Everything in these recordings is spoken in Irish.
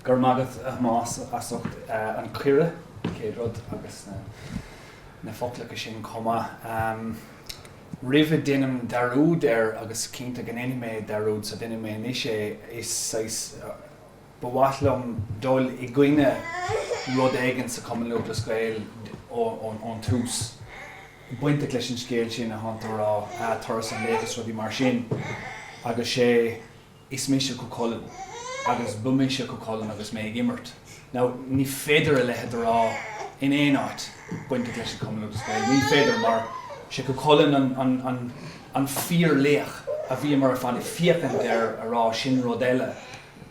Go raibh maith agat, a Thomás, as ucht an cuireadh, céad rud, agus na foclacha sin chomh maith. Roimh a deinim dearúd air, agus cinnte go ndéanfaidh mé dearúd, so déanfaidh mé anois é, is saghas, ba mhaith liom dul i gcoinne rud éigin sa Cumann Lúthchleas Gael ón tús, bainteach leis an scéal sin a thánn tú a rá, Turas an Laoich is rudaí mar sin, agus sé. Is mise Cú Chulainn agus ba mise Cú Chulainn agus mé ag imirt. Now, ní féidir a leithéid a rá in aon áit bainteach leis an Cumann Lúthchleas Gael. Ní féidir mar sé Cú Chulainn an, an, an, an fíor laoch a bhíomar ar fad ag féachaint air a rá, sin rud eile.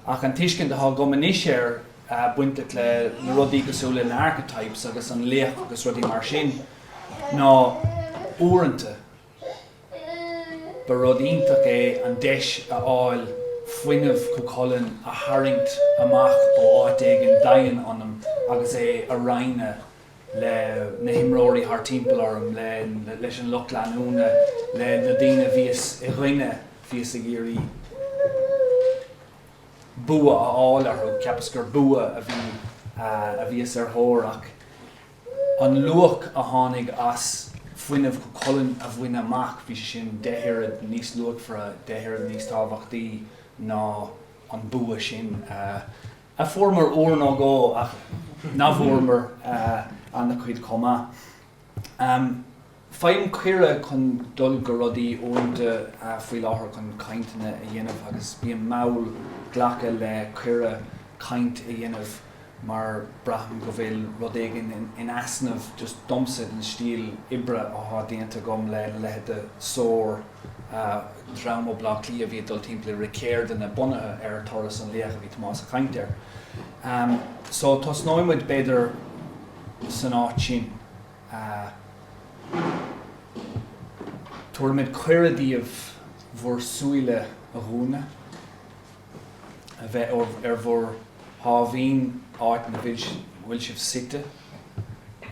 Ach an tuiscint atá agam anois air bainteach le na rudaí cosúil le archetypes agus an laoch agus rudaí mar sin ná uaireanta, Ba rud iontach é an deis a fháil fuinneamh Chú Chulainn a tharraingt amach ó áit éigin doimhin ionam agus é a roinnt le na himreoirí thar timpeall orm, le leis an lucht leanúna, le na daoine a bhíos i gcoinne bhíos ag iarraidh bua a fháil orthu. Cheapas gur bua a bhí a bhíos ar thóir ach. An luach a tháinig as fuinneamh Chú Chulainn a bhaint amach, bhí sin deich oiread níos luachmhaire, deich oiread níos tábhachtaí ná an bua sin a fuaireamar uair nó dhó ach ná fuaireamar an-chuid chomh maith. Faighim cuireadh chun dul go rudaí uaireanta faoi láthair chun cainteanna a dhéanamh agus bím mall ag glacadh le cuireadh caint a dhéanamh mar braithim go bhfuil rud éigin in easnamh just domsa ón stíl oibre athá déanta agam le leithéid de Soar, dream ó Bleá Cliath a bhí ag dul timpeall ag rith ceardlanna bunaithe ar Turas an Laoich a bhí Tomás ag caint air. So tosnóidh muid b'fhéidir san áit sin. Tabharfaidh muid cuireadh daoibh bhur súile a dhúnadh, a bheith ar bhur sáimhín áit ina bhfuil sibh suite,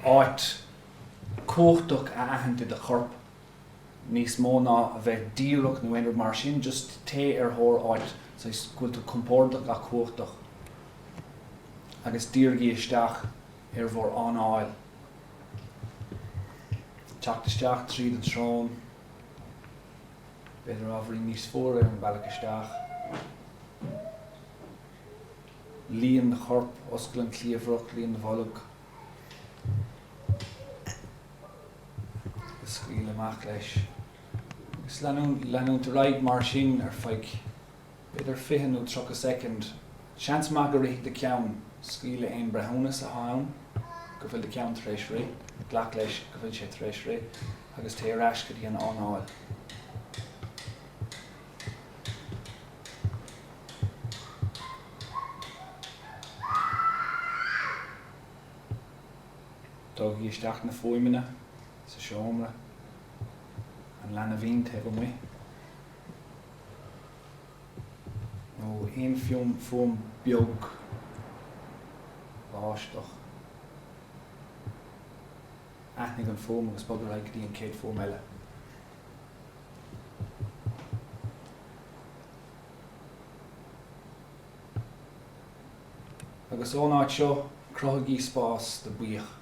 áit cumhachtach a aithint i do chorp, níos mó ná a bheith díreach nó aon rud mar sin, just téigh ar thóir áit saghas go bhfuil tú compordach ach cumhachtach agus dírigí isteach. ar bhur anáil. Teacht isteach tríd an tsrón, b'fhéidir ábhairín níos fuaire ar an bealach isteach. Líon do chorp, oscail an cliabhrach, líon do bholg, is scaoil amach leis. Is leanúint ar aghaidh mar sin ar feadh. b'fhéidir 20 nó 30 soicind. Seans maith go rithfidh do cheann. Scaoil le haon breithiúnas atá ann go bhfuil do cheann tar éis rith, glac leis go bhfuil sé tar éis rith, agus téigh ar ais go dtí an anáil. Tógaigí isteach na fuaimeanna sa seomra, an leanbhín taobh amuigh. nó aon fuaim beag báisteach. Aithnigh an fuaim agus bog ar aghaidh go dtí an chéad fuaim eile. Agus ón áit seo, cruthaigí spás do buíoch.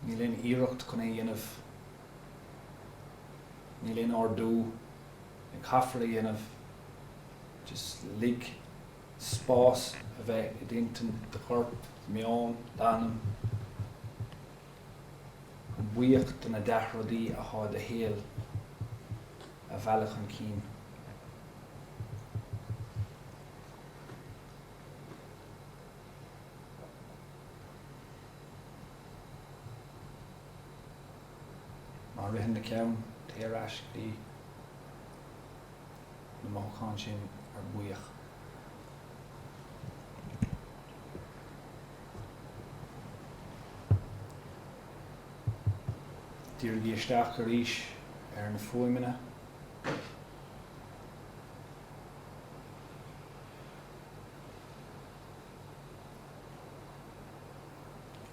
Níl aon iarracht chun é a dhéanamh. Níl aon ordú a caithfear a dhéanamh. Just lig spás a bheith i d'intinn, do chorp, do mheon, d'anam, chun buíoch de na dea-rudaí atá i do shaol a mhealladh chun cinn. Má ritheann do cheann téigh ar ais go dtí na mothúcháin sin ar buíoch. Dírigí isteach arís ar na fuaimeanna.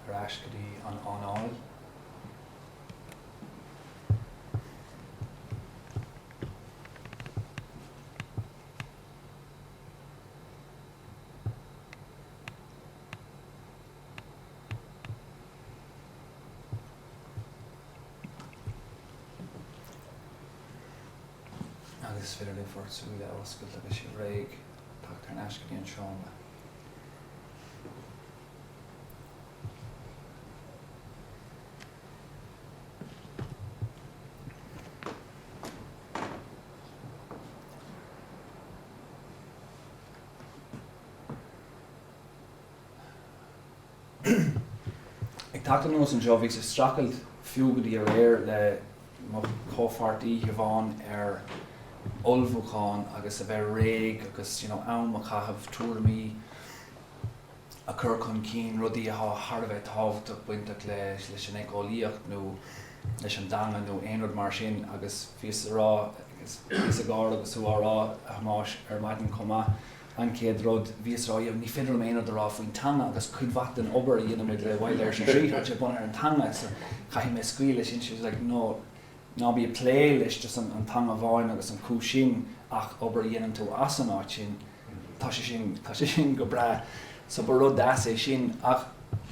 Ar ais go dtí an anáil. Agus is féidir libh bhur súile a oscailt agus sibh réidh. Teacht ar ais go dtí an seomra. Ag teacht anuas anseo, bhíos ag streachailt fiú go dtí aréir le mo chomhpháirtí Siobhán ar ullmhúchán agus a bheith réidh agus you know am a chaitheamh tuairimí a chur chun cinn, rudaí atá thar a bheith tábhachtach bainteach leis an éiceolaíocht nó leis an dteanga nó aon rud mar sin agus bhíos a rá, bhíos ag gáire agus tú á rá a Thomáis ar maidin chomh maith. An chéad rud, bhíos a rá, ní féidir liom aon rud a rá faoin teanga agus cuid mhaith den obair a dhéanann muid le Wild Irish Retreat, tá sé bunaithe ar an teanga so caithfidh mé scaoileadh leis sin. She was like, no, ná bí ag plé leis just an teanga amháin agus an cúis sin ach obair a dhéanann tú as an áit sin, tá sé sin, tá sé sin go breá. So ba rud deas é sin ach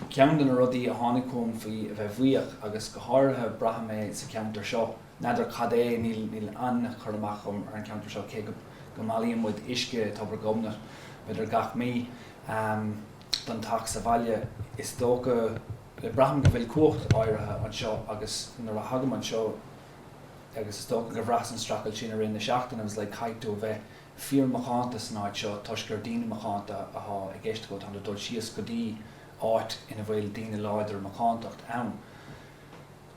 ceann de na rudaí a tháinig chugam faoi a bheith buíoch agus go háirithe braithim é sa cheantar seo, n'fheadar cad é, níl, níl aon chur amach agam ar an gceantar seo cé go. go mbailíonn muid uisce i dTobar Ghobnait, b'fhéidir gach mí, don teach sa bhaile. Is dócha, le braithim go bhfuil cumhacht áirithe anseo agus nuair a thagaim anseo agus is dócha go bhraitheas an streachailt sin i rith na seachtaine agus le caithfidh tú a bheith fíor macánta san áit seo toisc gur daoine macánta athá i gceist agat, tháim do dul síos go dtí áit ina bhfuil daoine láidir macántacht ann.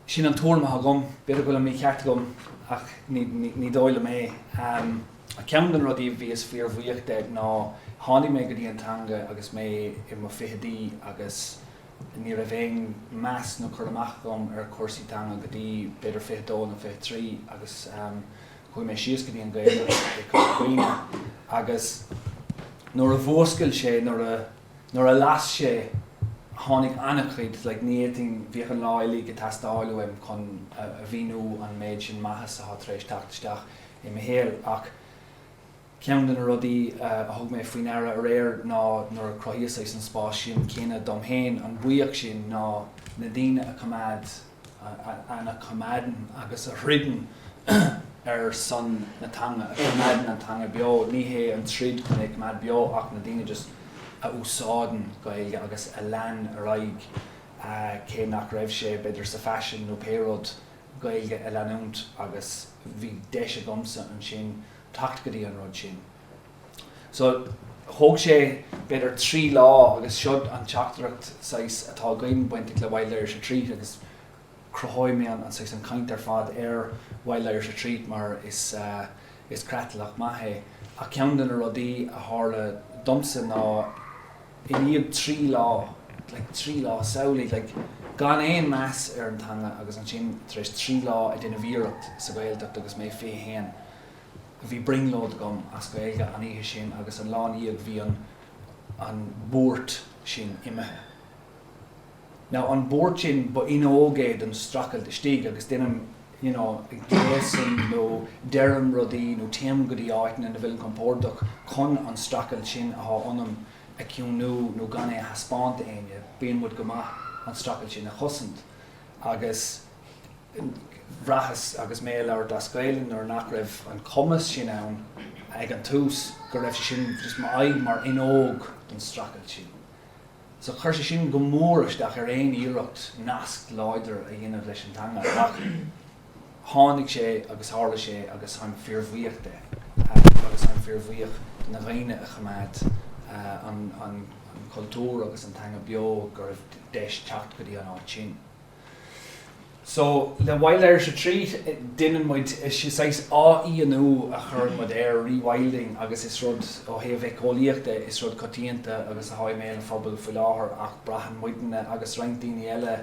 Sin an tuairim atá agam. B'fhéidir go bhfuil an mí-cheart agam ach ní dóigh liom é. Ceann de na rudaí a bhíos fíorbhuíoch de ná tháinig mé go dtí an teanga agus mé i mo fichidí agus ní raibh aon mheas nó cur amach agam ar chúrsaí teanga go dtí b'fhéidir fiche dó nó fiche trí agus chuaigh mé síos go dtí an Ghaeltacht i gCorca Dhuibhne agus nuair a mhúscail sé, nuair a. nuair a las sé tháinig an-chuid like ní fhéadfainn, bheadh an lá uilig ag teastáil uaim chun a mhíniú an méid sin maitheas atá tar éis teacht isteach i mo shaol ach ceann de na rudaí a thug mé faoi ndeara aréir ná nuair a chruthaíos saghas an spás sin céanna dom féin an buíoch sin ná na daoine a choimeád a choimeádann agus a throideann ar son na teanga, a choimeádann an teanga beo. Ní hé an troid chun é a choimeád beo ach na daoine just a úsáideann Gaeilge agus a lean ar aghaidh cé nach raibh sé b'fhéidir sa faisean nó pé rud, Gaeilge a leanúint agus bhí deis agamsa ansin teacht go dtí an rud sin. So, thóg sé b'fhéidir trí lá agus seo an teachtaireacht saghas atá againn bainteach le Wild Irish Retreat agus cruthóidh mé an saghas an chaint ar fad ar Wild Irish Retreat mar is is creatlach maith é ach ceann de na rudaí a tharla domsa ná i ndiaidh trí lá, like trí lá, samhlaigh, like gan aon meas ar an teanga agus ansin tar éis trí lá ag déanamh iarracht sa Ghaeltacht agus mé fiche haon. bhí brionglóid agam as Gaeilge an oíche sin agus an lá ina dhiaidh bhí an an buairt sin imithe. Now an buairt sin ba fhuinneog é don streachailt istigh agus déanaim you know gléasaim nó deirim rudaí nó téim go dtí áiteanna ina bhfuilim compordach chun an streachailt sin atá ionam a chiúnú nó gan é a thaispeáint do éinne bíonn muid go maith an streachailt sin a chosaint agus Bhraitheas agus mé ag labhairt as Gaelainn nuair nach raibh an cumas sin ann ag an tús go raibh sé sin just m'aghaidh mar fhuinneog don streachailt sin. So chuir sé sin go mór isteach ar aon iarracht nasc láidir a dhéanamh leis an teanga ach tháinig sé agus tharla sé agus táim fíor bhuíoch de agus táim fíor bhuíoch de na dhaoine a choimeád an cultúr agus an teanga beo go raibh deis teacht go dtí an áit sin. So, le Wild Irish Retreat, déanann muid, is saghas athfhiánú a chuireann muid air, rewilding, agus is rud, ó thaobh éiceolaíocht de, is rud coitianta agus atá i mbéal an phobail faoi láthair ach braitheann muidinne agus roinnt daoine eile,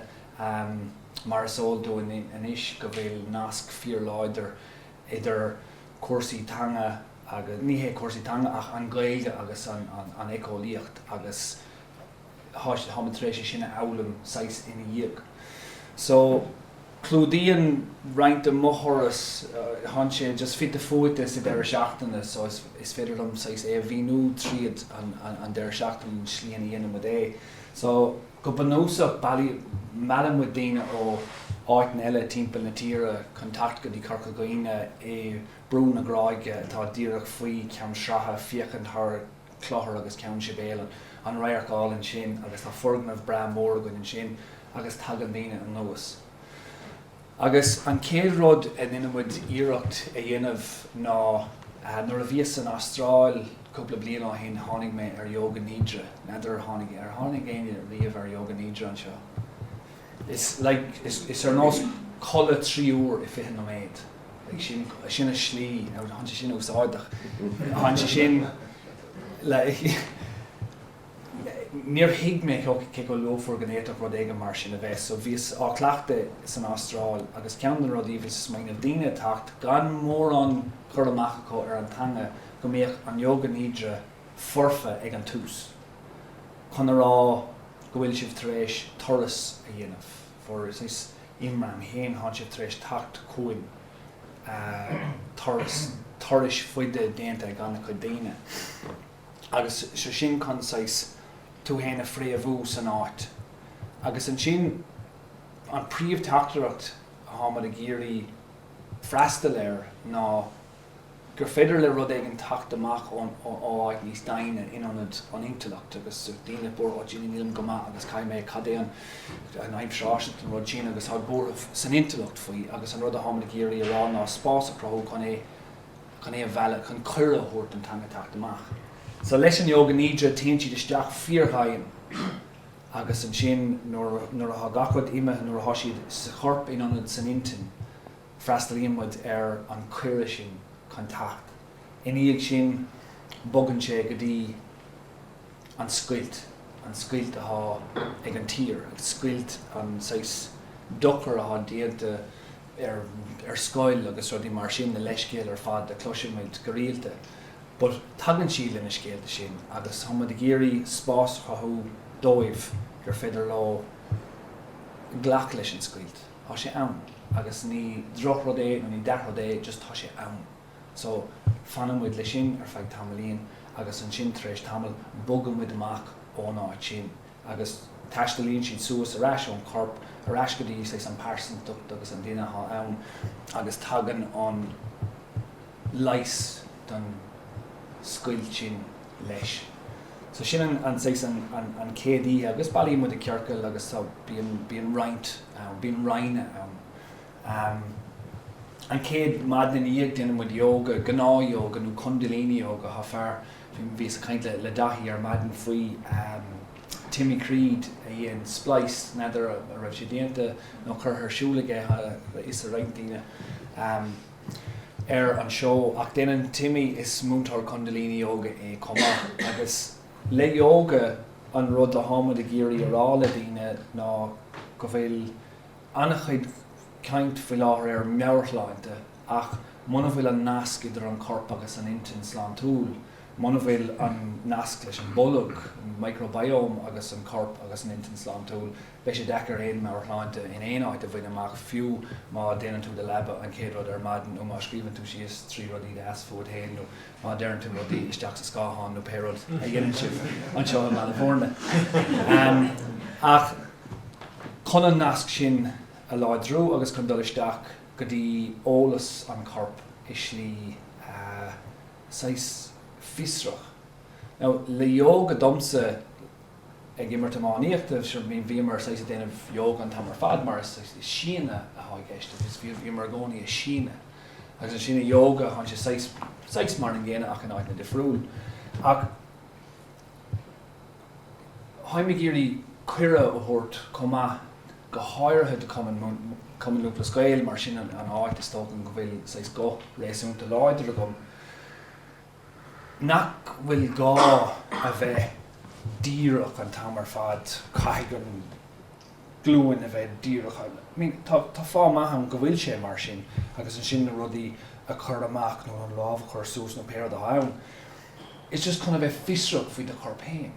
mar is eol dúinn anois, go bhfuil nasc fíorláidir idir cúrsaí teanga agus, ní hé cúrsaí teanga, ach an Ghaeilge agus an éiceolaíocht agus tháimid tar éis é sin a fhoghlaim saghas ina dhiaidh. So, clúdaíonn roinnt de mo thuras, thánn sé just fite fuaite sa deireadh seachtaine, so is féidir liom saghas é a mhíniú tríd an deireadh seachtaine, an slí ina dhéanann muid é. So, go bunúsach, meallann muid daoine ó áiteanna eile timpeall na tíre chun teacht go dtí Corca Dhuibhne i Brú na Gráige atá díreach faoi Cheann Sraithe ag féachaint thar Clochar agus Ceann Sibéal an radharc álainn sin agus tá foirgneamh breá mór againn ansin agus tagann daoine anuas. Agus an chéad rud a ndeineann muid iarracht a dhéanamh ná, nuair a bhíos san Astráil cúpla bliain ó shin tháinig mé ar Yoga Nidra, n'fheadar ar tháinig ar tháinig éinne riamh ar Yoga Nidra anseo? Is like, is, is ar nós codladh trí uair i fiche nóiméad. Like, sin, sin an slí, now thánn sé sin úsáideach, thánn sé sin, like, níor thuig mé cé chomh luachmhar go bhféadfadh rud éigin mar sin a bheith. So bhíos á chleachtadh san Astráil agus ceann de na rudaí a bhíos ag smaoineamh, daoine ag teacht gan mórán cur amach acu ar an teanga, go mbíodh an Yoga Nidra foirfe ag an tús. chun a rá go bhfuil sibh tar éis turas a dhéanamh for is is imram féin thánn sibh tar éis tacht chugainn tá turais faide déanta ag ana-chuid daoine agus so sin chun saghas tú féin a phréamhú san áit agus ansin an príomh teachtaireacht atháimid ag iarraidh freastal air ná gur féidir le rud éigin teacht amach ó áit níos doimhne in ionad an intleacht agus daoine buartha, Ó Dia nílim go maith agus caithfidh mé, cad é an aimsir fháistineach don rud sin agus tá buaireamh san intleacht faoi agus an rud a tháimid ag iarraidh a rá ná spás a chruthú chun é, chun é a mhealladh, chun cuireadh a thabhairt don teanga teacht amach. So leis an ióga nidra, téann siad isteach fíordhoimhin agus ansin nuair, nuair atá gach rud imithe, nuair atá siad sa chorp in ionad san intinn, Freastalaíonn muid ar an cuireadh sin chun teacht. Ina dhiaidh sin, bogann sé go dtí an scoilt, an scoilt atá ag an tír, agus scoilt an saghas dochar atá déanta ar ar scoil agus rudaí mar sin, na leithscéal ar fad a chloisimid go rialta. But tagann siad le na scéalta sin agus tá muid ag iarraidh spás a chruthú dóibh gur féidir leo glacadh leis an scoilt. tá sé ann agus ní drochrud é nó ní dea-rud é just tá sé ann so fanann muid leis sin ar feadh tamaillín agus ansin tar éis tamaill bogann muid amach ón áit sin agus taistealaíonn siad suas ar ais ón chorp ar ais go dtí saghas an pearsantacht agus an duine atá ann agus tagann an leigheas don scoilt sin. leis. So sin an an saghas an an an chéad oíche agus bailíonn muid i ciorcal agus so bíonn bíonn roinnt ann, bíonn roinne ann. Ehm an chéad maidin ina dhiaidh déanann muid yoga, gnáth yoga nó kundalini yoga, tá fear, bhíos ag caint le le Daithí ar maidin faoi ehm Timmy Creed a dhein Spliced, n'fheadar a raibh sé déanta nó curtha ar siúl aige, tá a fhios ag roinnt daoine. Ehm. ar an seó ach déanann Timmy is Múinteoir Kundalini Yoga é chomh maith agus. Le Yoga, an rud atá muid ag iarraidh a rá le daoine ná go bhfuil an-chuid caint faoi láthair ar mheabhairshláinte ach muna bhfuil an nasc idir an corp agus an intinn sláintiúil, muna bhfuil an nasc leis an bolg, an microbiome, agus an corp agus an intinn sláintiúil, Beidh sé deacair aon mheabhairshláinte in aon áit a bhaint amach, fiú má déanann tú do leaba an chéad rud ar maidin nó má scríobhann tú síos trí rudaí deasa fút fhéin nó má deireann tú rudaí isteach sa scáthán nó pé rud a dhéanann sibh anseo i mBaile Bhúirne. Ach chun an nasc sin a láidriú agus chun dul isteach go dtí eolas an choirp i slí saghas fiosrach, now le ióga domsa, ag imirt iománaíochta, so bhíomar saghas ag déanamh yoga an t-am ar fad mar is síneadh atá i gceist agus bhíomar i gcónaí ag síneadh agus an síneadh yoga tháinig sé saghas, saghas mar an gcéanna ach in áiteanna difriúil ach tháimid ag iarraidh cuireadh a thabhairt chomh maith go háirithe do Cumann, Cumann Lúthchleas Gael mar sin an áit is dócha go bhfuil saghas guth réasúnta láidir agam. nach bhfuil gá a bheith díreach an t-am ar fad, caithfidh an ghlúin a bheith díreach, I mean tá fáth maith ann go bhfuil sé mar sin agus ansin na rudaí a chur amach nó an lámh a chur suas nó pé rud athá ann, it's just chun a bheith fiosrach faoi do chorp féin,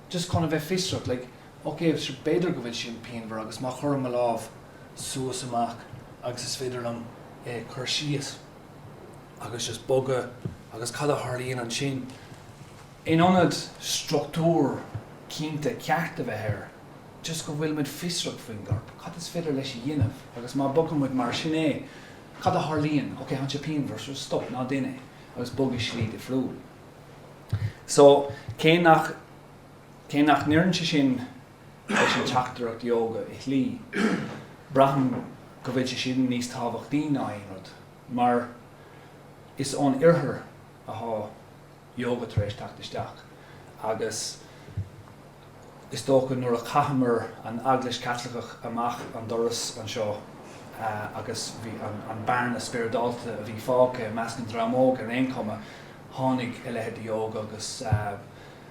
just chun a bheith fiosrach like ok b'fhéidir go bhfuil sé pianmhar agus má chuirim mo lámh suas amach agus is féidir liom é a chur síos. agus just bogadh agus cad a tharlaíonn ansin. In ionad struchtúr cinnte ceart a bheith air, just go bhfuil muid fiosrach faoin gcorp, cad is féidir leis a dhéanamh, agus má bogfaidh muid mar sin é, cad a tharlaíonn, ok, thá sé pian versus stop, ná déan é, agus bog i slí difriúil. So, cé nach, cé nach n-oireann sé sin leis an teachtaireacht Yoga i slí. Braithim go bhfuil sé sin níos tábhachtaí ná aon rud, mar is ón Oirthear athá Yoga tar éis teacht isteach, agus is dócha nuair a chaitheamar an Eaglais Chaitliceach amach an doras anseo agus bhí an bearna spioradálta a bhí fágtha i measc an dream óg ar aon chuma, tháinig a leithéid de Yoga agus.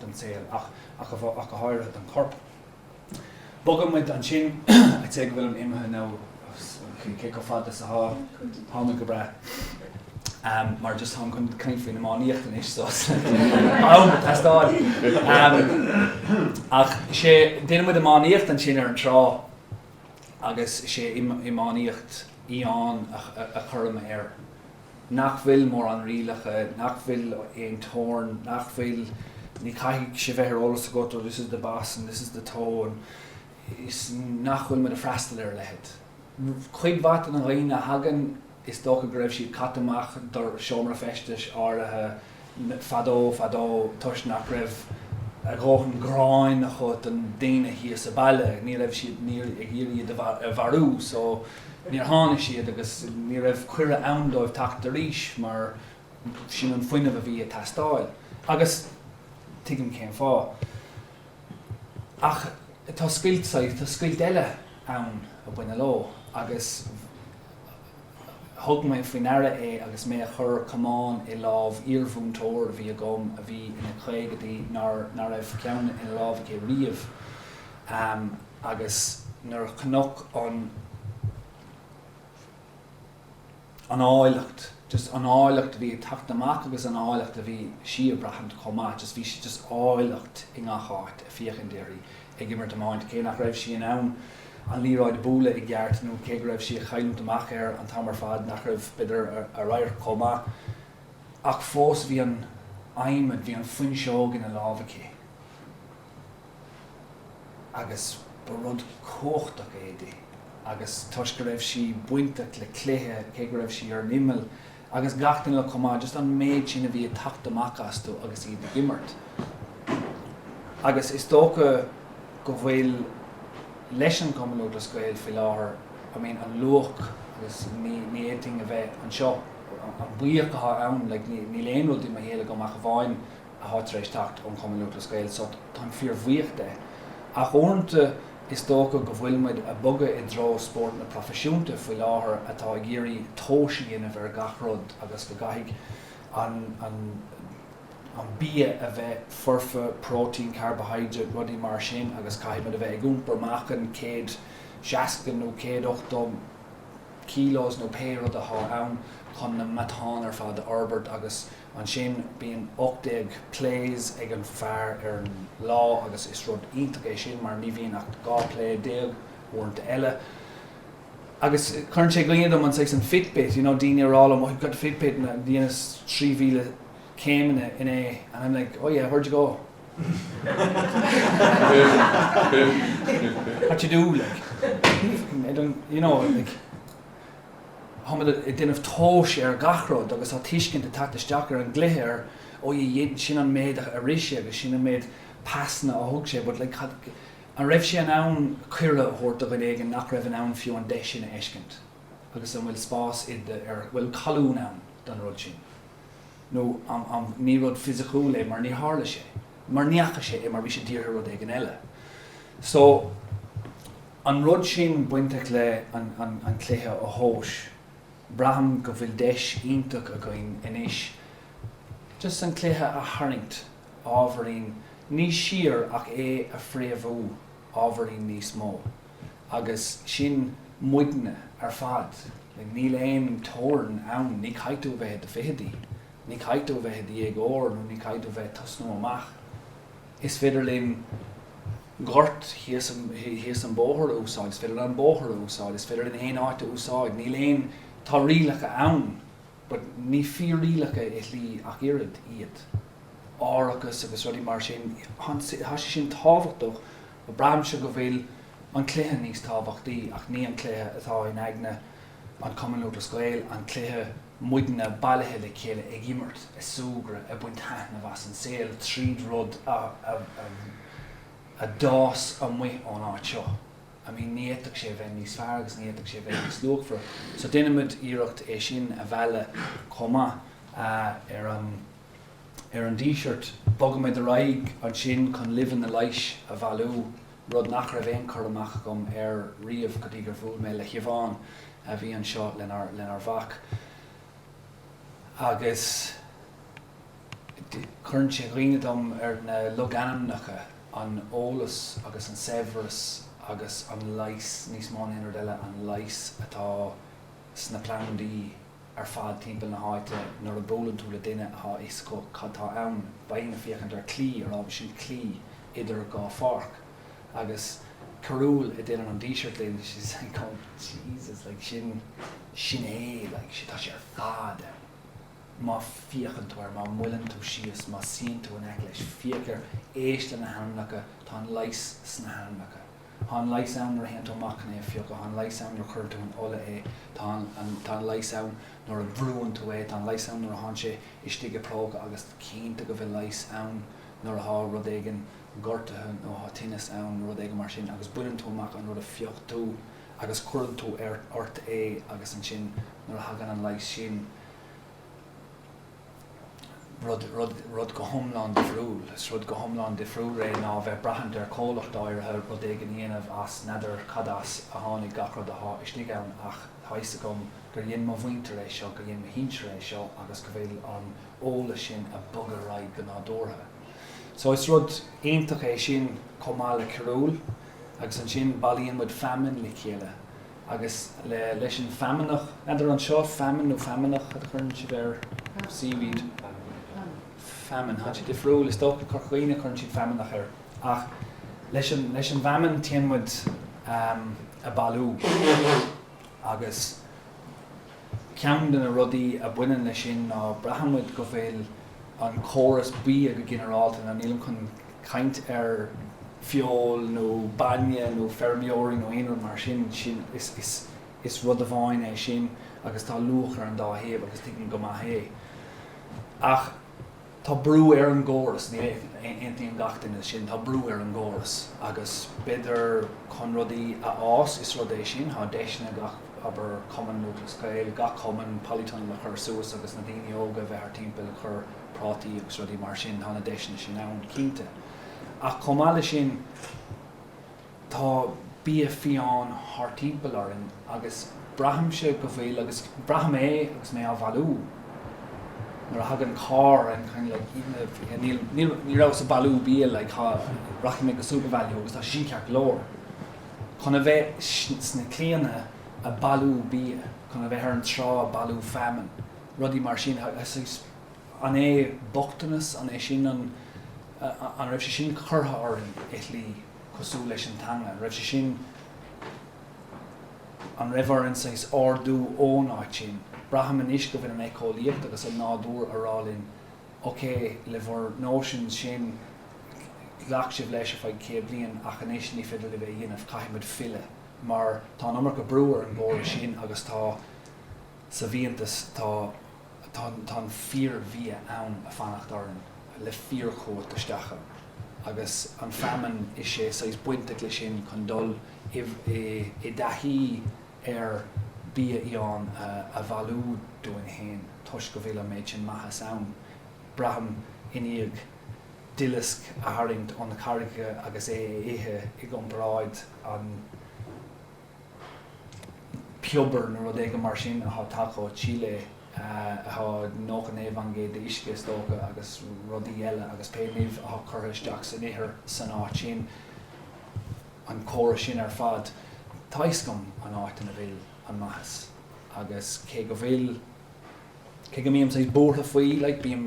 don saol ach ach go háirithe don chorp. Bogann muid ansin a' té go bhfuilim imithe nó cé chomh fada is atá, táimid go breá mar just táim chun caint faoin iománaíocht anois so is am ag teastáil. Ach so deineann muid iománaíocht ansin ar an trá agus sé iománaíocht fhiáin a chuirim air nach bhfuil mórán rialacha, nach bhfuil aon teorainn, nach bhfuil, ní chaithfidh sé bheith ar eolas agat, oh this is the bas and this is the toe, is nach bhfuil muid ag freastal ar a leithéid. Cuid mhaith de na daoine a thagann, is dócha go raibh siad caite amach de sheomra feistis áirithe, Fadó, fadó, toisc nach raibh a dhóthain gráin acu don daoine thíos sa baile, ní raibh siad, ní, ag iarraidh iad a mharú, so, níor tháinig siad agus ní raibh cuireadh ann dóibh teacht arís mar sin an fuinneamh a bhí ag teastáil. Agus tuigim cén fáth. Ach tá scoilt, tá scoilt eile ann a baineann leo agus. Thug mé faoi ndeara é agus mé a chur camán i lámh iarmhúinteoir a bhí agam a bhí ina caogaidí nár raibh ceann ina lámh aici riamh agus nuair a chonac an an áilleacht just an áilleacht a bhí ag teacht amach agus an áilleacht a bhí sí a bhraithint chomh maith just bhí just áilleacht i ngach áit ag féachaint uirthi ag imirt iomáint, cé nach raibh sí in ann an liathróid a bualadh i gceart, nó cé go raibh sí ag chailliúint amach air an t-am ar fad, nach raibh, b'fhéidir, a radharc chomh maith, ach fós bhí an adhmad, bhí an fuinseog ina lámh aici, agus ba rud cumhachtach é di, agus toisc go raibh sí bainteach le cluiche, cé go raibh sí ar an imeall, agus gach duine eile chomh maith just an méid sin a bhí ag teacht amach astu agus iad ag imirt. Agus is dócha go bhfuil leis an gCumann Lúthchleas Gael faoi láthair, I mean an luach agus ní ní fhéadfainn a bheith anseo an buíoch atá ann like níl aon rud i mo shaol agam ach amháin atá tar éis teacht ón Chumann Lúthchleas Gael so táim fíor bhuíoch de. Ach uaireanta is dócha go bhfuil muid a' bogadh i dtreo spóirt na proifisiúnta faoi láthair atá ag iarraidh tomhais a dhéanamh ar gach rud agus go gcaithfidh an an an bia a bheith foirfe, protein, carbohydrate, rudaí mar sin agus caithfidh muid a bheith ag iompar meáchain céad seasca nó céad ochtó kilos nó pé rud atá ann chun na matáin ar fad a fhorbairt agus Ansin bíonn 18 plays ag an fear ar an lá agus is rud iontach é sin mar ní bhíonn ach 12 play uaireanta eile. Agus cuireann sé i gcuimhne dom an saghas an fitbit, you know, daoine a rá liom, oh, you've got the fitbit and a dheineas 3,000 céimeanna inné and I'm like, oh yeah, where'd you go? what did you do, like? you know, like. Táimid ag déanamh tomhais ar gach rud agus tá tuiscint ag teacht isteach ar an gcluiche ar oh yeah yeah sin an méid a rith sé agus sin an méid pasanna a thug sé but like cad, an raibh sé in ann cuireadh a thabhairt do dhuine éigin nach raibh in ann fiú an deis sin a fheiscint agus an bhfuil spás i do, ar, bhfuil colún ann don rud sin nó an, an, ní rud fisiciúil é mar níor tharla sé, mar ní fhaca sé é mar bhí sé dírithe ar rud éigin eile so. an rud sin bainteach le an cluiche a thomhas, braithim go bhfuil deis iontach againn anois just an cluiche a tharraingt ábhairín níos siar ach é a phréamhú ábhairín níos mó agus sin muidne ar fad, níl aon teorainn ann, ní chaithfidh tú a bheith i do fichidí, ní chaithfidh tú a bheith i do dhéagóir nó ní chaithfidh tú a bheith ag tosnú amach. Is féidir linn gort thíos an bóthar a úsáid, is féidir linn an bóthar a úsáid, is féidir linn aon áit a úsáid, níl aon, tá rialacha ann but ní fíor-rialacha i shlí ach oiread iad. Árachas agus rudaí mar sin, tá sé sin tábhachtach ach braithimse go bhfuil an cluiche níos tábhachtaí ach ní an cluiche atá in aigne an Chumann Lúthchleas Gael, an cluiche muidne bailithe le chéile ag imirt, ag súgradh, ag baint taitneamh as an saol tríd rud a d'fhás amuigh ón áit seo. I mean, ní fhéadfadh sé a bheith níos fearr agus ní fhéadfadh sé a bheith níos luachmhaire. So déanaimid iarracht é sin a mhealladh chomh maith ar an ar an Díseart. Bogaimid ar aghaidh ansin chun luibheanna leighis a bhailiú, rud nach raibh aon chur amach agam air riamh go dtí gur bhuail mé le Siobhán a bhí anseo lenár mhac agus cuireann sé i gcuimhne dom ar na logainmneacha, an t-eolas agus an saibhreas agus an leigheas, níos mó ná aon rud eile, an leigheas atá sna plandaí. ar fad timpeall na háite. Nuair a bhuaileann tú le duine atá fhios acu cad tá ann, beidh muidne ag féachaint ar claí, ar ndóigh sin claí idir dhá pháirc. Agus carúil a déanann an Díseart linn, she's like oh Jesus like sin sin é like sin tá sé ar fad ann. Má féachann tú air, má mhoilleann tú síos, má suíonn tú in aice leis, féach air, éist leis na hainmneacha, tá an leigheas sna hainmneacha. Tá an leigheas ann nuair a théann tú amach chun é a phiocadh, tá an leigheas ann nuair a chuireann tú in ola é, tá an tá an leigheas ann nuair a bhrúann tú é, tá an leigheas ann nuair athá sé istigh i bpróca agus cinnte go bhfuil leigheas ann nuair athá rud éigin gortaithe nó thá tinneas ann nó rud éigin mar sin agus baineann tú amach an rud a phioc tú agus cuireann tú ort é agus ansin nuair a thagann an leigheas sin rud go hiomlán difriúil. Is rud go hiomlán difriúil é ná bheith ag braithint ar comhlacht áirithe rud éigin a dhéanamh as n'fheadar cad as a tháinig gach rud athá istigh ann ach tá fhios agam gur dhein mo mhuintir é seo, gur dhein mo shinsir é seo agus go bhfuil an eolas sin a' bogadh ar aghaidh go nádúrtha. So is rud iontach é sin chomh maith le carúl agus ansin bailíonn muid feamainn le chéile, agus leis an feamnach, n'fheadar anseo, feamainn nó feamnach cad a thugann sibh air? seaweed, feamainn, tá sé difriúil is dócha, Corca Dhuibhne tugann siad feamnach air, ach leis an, leis an bhfeamainn téann muid ag bailiú agus. Ceann de na rudaí a bhaineann leis sin ná braithimid go bhfuil an córas bia go ginearálta, now nílim chun caint ar feoil nó bainne nó feirmeoirí nó aon rud mar sin, sin, is, is, is rud amháin é sin agus tá luach ar an dá thaobh agus tuigim go maith é. Ach. Tá brú ar an gcóras, ní aontaíonn gach duine le sin, tá brú ar an gcóras agus b'fheidir chun rudaí a fhás is rud é sin, tá deiseanna ag gach, abair Cumann Lúthchleas Gael, gach cumann, polytunnel a chur suas agus na daoine óga a bheith thart timpeall ag chur prátaí agus rudaí mar sin, tá na deiseanna sin ann, cinnte. Ach chomh maith leis sin, Tá bia fiáin thart timpeall orainn agus braithimse go bhfuil agus braithim é agus mé á bhailiú. Nuair a thagann carr I'm kind of like you know like níl níl ní rabhas ag bailiú bia like ha rachaidh mé go SuperValu agus tá sé sin ceart go leor. Chun a bheith sna claíocha ag bailiú bia, chun a bheith ar an trá ag bailiú feamainn, rudaí mar sin ha so an é bochtanas an é sin an an raibh sé sin curtha orainn i shlí? cosúil leis an teanga. An raibh sé sin, an raibh orainn saghas ardú ón áit sin? Braithim anois go bhfuil an éiceolaíocht agus an nádúr ag rá linn, ok, le bhur notions sin, ghlac sibh leis ar feadh céad bliain ach anois ní féidir libh é a dhéanamh, caithfimid filleadh mar tá an iomarca brú ar an gcóras sin agus tá. sa bhfiántas, tá an fíor-bhia ann ag fanacht orainn le fíor-chumhacht isteach ann, agus an fheamainn is ea saghas bainteach leis sin chun dul i dtaithí ar bhia fhiáin a bhailiú dúinn féin, toisc go bhfuil an méid sin maitheas ann. Braithim i ndiaidh duileasc a tharraingt ón gcarraig agus é a ithe i gcomparáid le. piobar nó rud éigin mar sin atá tagtha ó Chile atá 99% de d'uisce is dócha agus rudaí eile agus pé nimh atá curtha isteach san ithir san áit sin an córas sin ar fad tá fhios agam an áit ina bhfuil an maitheas agus cé go bhfuil cé go mbím saghas buartha faoi like bím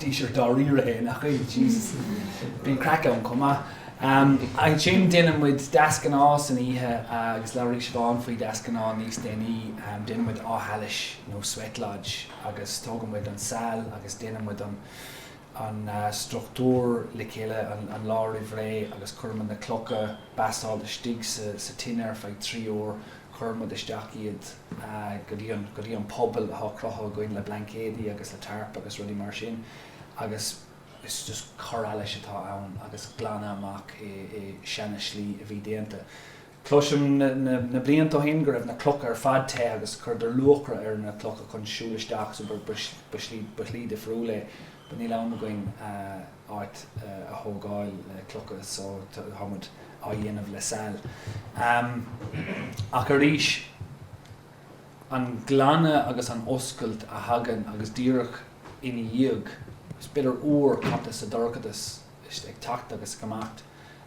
Díseart dáiríre é, nach é? Jesus. Bíonn craic ann chomh maith. Ansin déanann muid deasghnáth san oíche agus labhraíonn Siobhán faoi deasghnáth níos déanaí. Déanann muid áth allais nó sweat lodge agus tógann muid an sail agus déanann muid an struchtúr le chéile an lá roimh ré agus cuireann muid na clocha basalt istigh sa tine ar feadh trí uair. Cuireann muid isteach iad. go dtí an puball atá cruthaithe againn le blaincéidí agus le tarp agus rudaí mar sin agus is just cur allais atá ann agus glanadh amach é seana-slí a bhí déanta. Cloisim na blianta ó shin go raibh na clocha ar fad te agus chuireadar luachra ar na clocha chun siúl isteach so ba shlí difriúil é but níl am againn áit a thógáil le clocha so tá muid á dhéanamh le sail ach arís an glanadh agus an oscailt a thagann agus díreach ina dhiaidh is b'fhéidir uair caite sa dorchadas ag teacht agus ag imeacht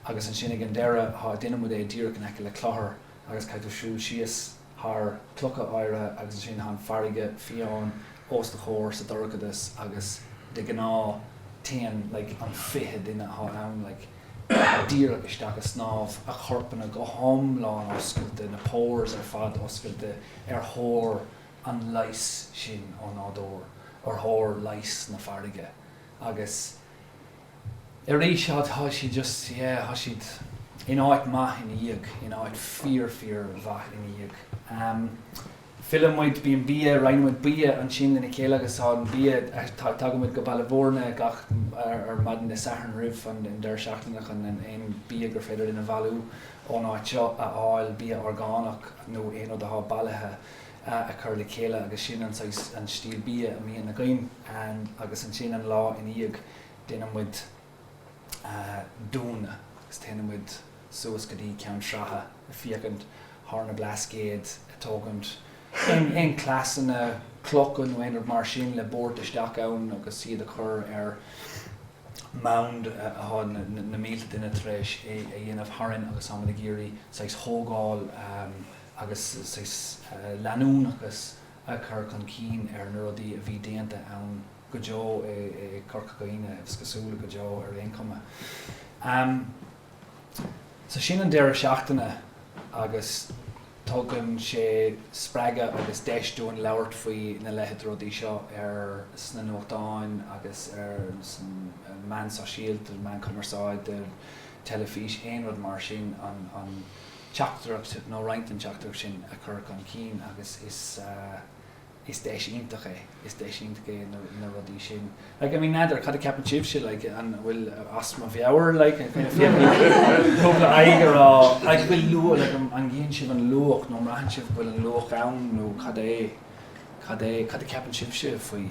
agus ansin ag an deireadh tá déanann muid é díreach in aice le Clochar agus caithfidh tú siúl síos thar chlocha oighre agus ansin tá an farraige fiáin os do chomhair sa dorchadas agus de ghnáth téann like an fiche duine atá ann like díreach isteach ag snámh, a chorpanna go hiomlán oscailte, na pores ar fad oscailte ar thóir an leighis sin ó nádúr, ar thóir leighis na farraige agus. tar éis tá siad just yeah tá siad in áit maith ina dhiaidh, in áit fíor fíor mhaith ina dhiaidh. Em filleann muid, bíonn bia, roinneann muid bia ansin lena chéile agus tá an bia tá tagann muid go Baile Bhúirne gach ar ar maidin Dé Sathairn roimh an an deireadh seachtaine chun an aon bia gur féidir linn a bhailiú ón áit seo a fháil, bia orgánach nó aon rud atá bailithe. a chur le chéile agus sin an saghas, an stíl bia a mbíonn againn agus ansin an lá ina dhiaidh déanann muid dúnadh agus téann muid suas go dtí Ceann Sratha ag féachaint thar na Blascaod ag tógaint aon cleasanna clocha nó aon rud mar sin le buairt isteach ann agus iad a chur ar mound athá na mílte duine tar éis é a dhéanamh tharainn agus táimid ag iarraidh saghas thógáil agus saghas leanúnachas a chur chun cinn ar na rudaí a bhí déanta ann go deo i Corca Dhuibhne, is cosúil, go deo ar aon chuma. So sin an deireadh seachtaine agus tugann sé spreagadh agus deis dúinn labhairt faoi na leithid rudaí seo ar sna nuachtáin agus ar san meán sóisialta, meán cumarsáide, teilifís, aon rud mar sin, an. teachtaireacht nó roinnt den teachtaireacht sin a chur chun cinn agus is deis iontach é, is deis iontach é na rudaí sin like I mean n'fheadar cad a ceapann sibhse like an bhfuil as mo mheabhair like cúpla aghaidh a rá like bhfuil luach like an gcíonn sibh an luach nó mbraitheann sibh go bhfuil an luach ann nó cad é, cad é, cad a ceapann sibhse faoi?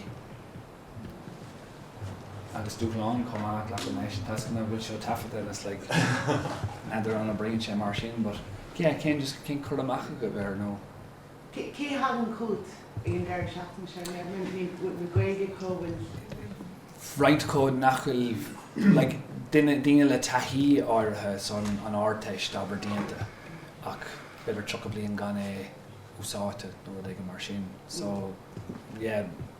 agus dúshlán chomh maith glacadh mé leis an toisc nach bhfuil seo taifeadta is like. N'fheadar an oibríonn sé mar sin but yeah cén just cén cur amach agaibh air nó. Cé cé a thagann chugat ag an deireadh seachtaine seo ar leith? I mean bhfuil bhfuil Gaeilge acu? Bhuel roinnt acu nach bhfuil like duine daoine le taithí áirithe san an Ardteist abair déanta ach b'fhéidir tríocha bliain gan é úsáidte nó rud éigin mar sin so yeah.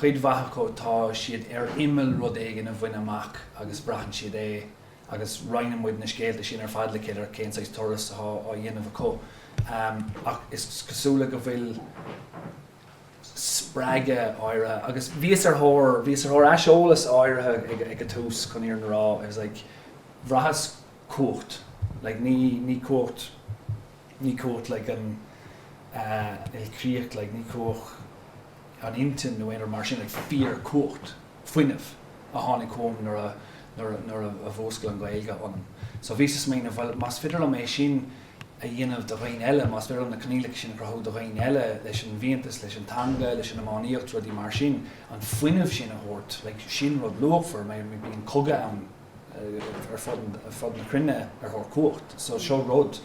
Cuid mhaith acu, tá siad ar imeall rud éigin a bhaint amach agus braitheann siad é agus roinneann muid na scéalta sin ar fad le chéile ar cén saghas turas atá á dhéanamh acu. Ach is cosúil go bhfuil spreagadh áirithe, agus bhíos ar thóir, bhíos ar thóir aiseolas áirithe ag an tús chun iarraidh rá, I was like, bhraitheas cumhacht, like ní, ní cumhacht, ní cumhacht like an, ilchríocht like, ní cumhacht, an intinn nó aon rud mar sin, ach fíorchumhacht fuinnimh a tháinig chugam nuair a, nuair a, nuair a mhúscail an Ghaeilge ionam. So bhíos ag smaoineamh, bhuel, más féidir liom é sin a dhéanamh do dhaoine eile, más féidir liom na coinníollacha sin a chruthú do dhaoine eile, leis an bhfiántas, leis an teanga, leis an iománaíocht, rudaí mar sin, an fuinneamh sin a thabhairt, like, sin rud luachmhar, mar bíonn cogadh ann, ar fud na cruinne ar thóir cumhacht. So seo rud,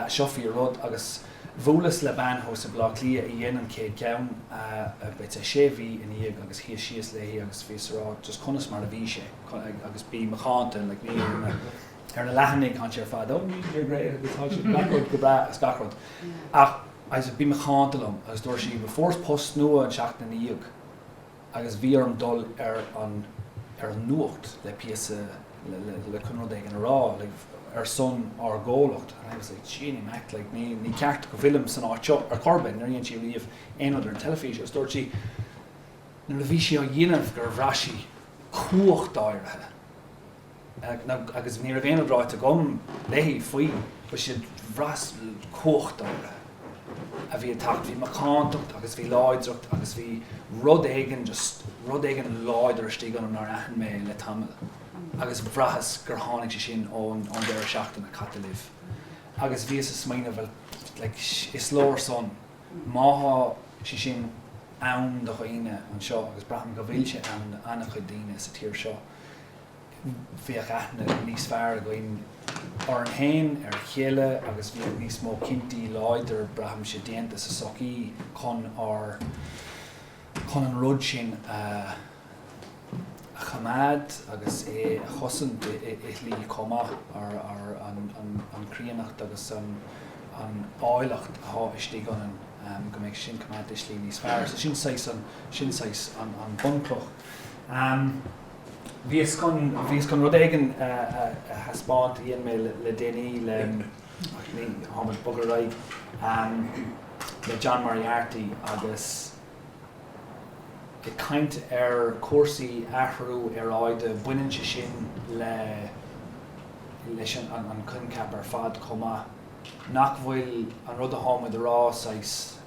seo fíor rud agus bhuaileas le bean thuas i Bleá Cliath a dhein an chéad cheann about sé mhí ina dhiaidh agus shuíos síos léi agus bhíos a rá just conas mar a bhí sé agus bí macánta like bhí ar na ar na leathanaigh tháinig sé ar fad oh you're great agus tá sé gach rud go breá as gach rud ach agus bí macánta liom agus dúirt sí bhuel fuaireas post nua an tseachtain ina dhiaidh agus bhí orm dul ar an ar an nuacht le píosa le le le chun rud éigin a rá like ar son ár gcomhlacht and I was like gee ní maith like ní ní ceart go bhfuilim san áit seo ar chor ar bith níor dhein sí riamh aon rud ar an teilifís agus dúirt sí nuair a bhí sí á dhéanamh gur bhraith sí cumhacht áirithe agus ní raibh aon rud ráite agam léi faoi, but she said, bhraitheas cumhacht áirithe a bhí ag teacht, bhí macántacht agus bhí láidreacht agus bhí rud éigin just, rud éigin láidir istigh ionam nár aithin mé le tamall agus bhraitheas gur tháinig sé sin ón deireadh seachtaine caite libh agus bhíos ag smaoineamh, bhuel like is leor son, má tá sé sin ann do dhaoine anseo agus braithim go bhfuil sé ann do ana chuid daoine sa tír seo, bheadh aithne níos fearr againn orainn féin, ar a chéile agus bheadh níos mó cinntí láidir, braithimse, déanta sa tsochaí chun ár chun an rud sin a a choimeád agus é a chosaint i slí chomh maith, ar ar an an an chríonnacht agus an an áilleacht atá istigh ionainn, go mbeadh sin coimeádta i slí níos fearr. So sin saghas an sin saghas an an bhunchloch. Bhíos chun, bhíos chun rud éigin a thaispeáint a dhein mé le déanaí le, actually táimid ag bogadh ar aghaidh, le John Moriarty agus ag caint ar chúrsaí athrú aeráide, baineann sé sin le, leis an choincheap ar fad chomh maith, nach bhfuil an rud atáimid a rá saghas,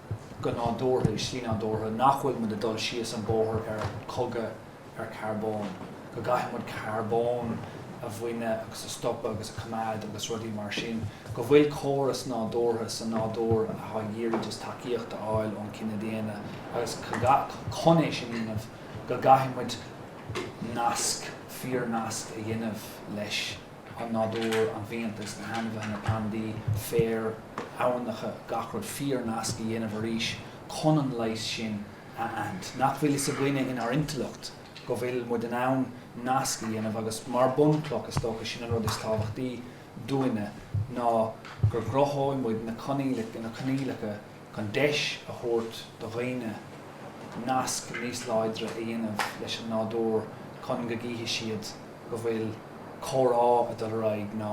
go nádúrtha, i slí nádúrtha, nach bhfuil muid ag dul síos an bóthar ar chogadh, ar carbón, go gcaithfidh muid carbón a bhaint agus a stopadh agus a choimeád agus rudaí mar sin, go bhfuil córas nádúrtha sa nádúr atá ag iarraidh just tacaíocht a fháil ón chine daonna agus chun é sin a dhéanamh go gcaithfidh muid nasc, fíornasc a dhéanamh leis an nádúr, an bhfiántas, na hainmhithe, na plandaí, féar, aibhneacha, gach rud, fíornasc a dhéanamh arís chun an leigheas sin ann nach bhfuil a fhios againne inár intleacht go bhfuil muid in ann nasc a dhéanamh agus mar bunchloch is dócha sin an rud is tábhachtaí dúinne ná go gcruthóidh muid na coinníollacha chun deis a thabhairt do dhaoine nasc níos láidre a dhéanamh leis an nádúr chun go gcífidh siad go bhfuil comhrá ag dul ar aghaidh ná